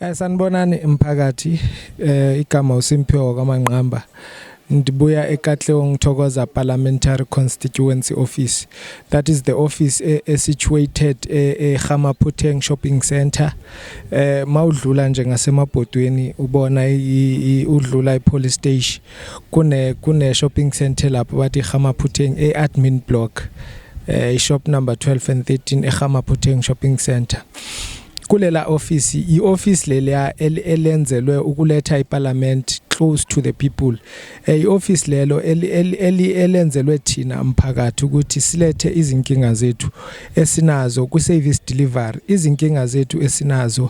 Eh sanibonani mphakathi eh igama uSimphiwe kwaManqamba ndibuya eKatleho ngithokoza parliamentary constituency office that is the office e, e situated eGamaphuteng e shopping center eh mawudlula nje ngasemabhodweni ubona udlula ipolice station kune kune shopping center lapho bathi Gamaphutheng e admin block eh i shop number 12 and 13 e Gamaphutheng shopping center kulela office i office lelia elenzelwe ukuletha iparliament close to the people eh, i office lelo elenzelwe thina umphakathi ukuthi silethe izinkinga zethu esinazo ku service delivery izinkinga zethu esinazo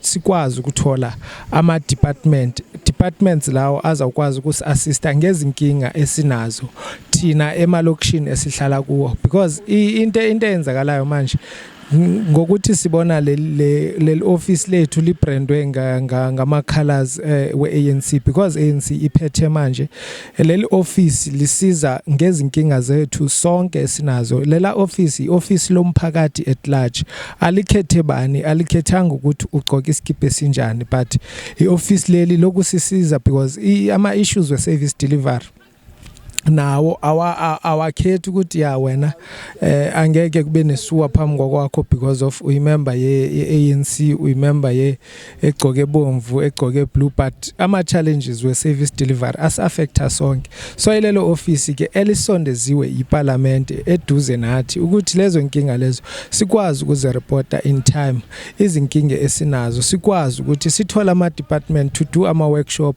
sikwazi ukuthola ama department departments lawo azawukwazi ukusi-assista ngezinkinga esinazo thina emalokishini esihlala kuwo because into into eyenzakalayo manje ngokuthi sibona leli office lethu librandwe ngama colors eh, we ANC because ANC iphethe manje Leli ofisi lisiza ngezinkinga zethu sonke esinazo. Lela ofisi i-ofisi lomphakathi at large. Alikhethe bani, alikhethanga ukuthi ugcoka isikibha esinjani but i-ofisi leli lokusisiza because ama-issues we-service delivery nawo awakhethi ukuthi ya wena eh angeke kube nesuwa phambi kwakwakho because of uyimember ye ANC uyimember ye egcoke bomvu egcoke blue but ama challenges we service delivery as affecta sonke so ilelo office ke elisondeziwe yiparliament eduze nathi ukuthi lezo inkinga lezo sikwazi ukuze reporter in time izinkinga esinazo sikwazi ukuthi sithola ama department to do ama workshop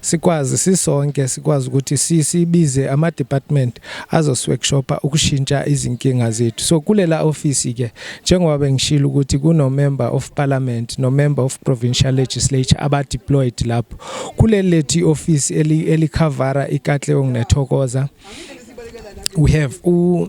sikwazi sisonke sikwazi ukuthi sisibize ama department azosworkshopa ukushintsha izinkinga zethu so kulela office ke njengoba bengishilo ukuthi kuno member of parliament no member of provincial legislature aba deployed lapho kuleli lethi office eli elikhavara ikatleong nethokoza we have u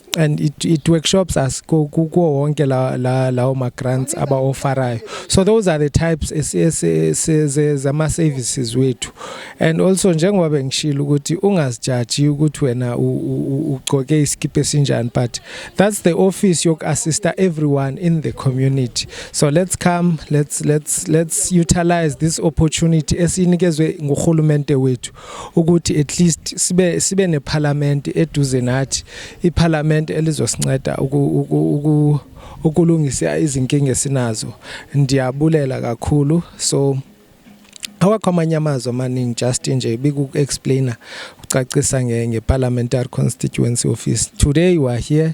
and it, it workshops us kuwo wonke la la lawo ma grants aba offerayo so those are the types zama services wethu and also njengoba bengishilo ukuthi ungazijaji ukuthi wena ugcoke isikipha esinjani but that's the office yok assista everyone in the community so let's come let's let's let's utilize this opportunity esinikezwe nguhulumente wethu ukuthi at least sibe sibe neparlament eduze nathi iparlament elizosinceda uku ukulungisa izinkinga esinazo ndiyabulela kakhulu so awakho amanye amazwi amaningi just nje biku-explainer ucacisa nge-parliamentary constituency office today you are here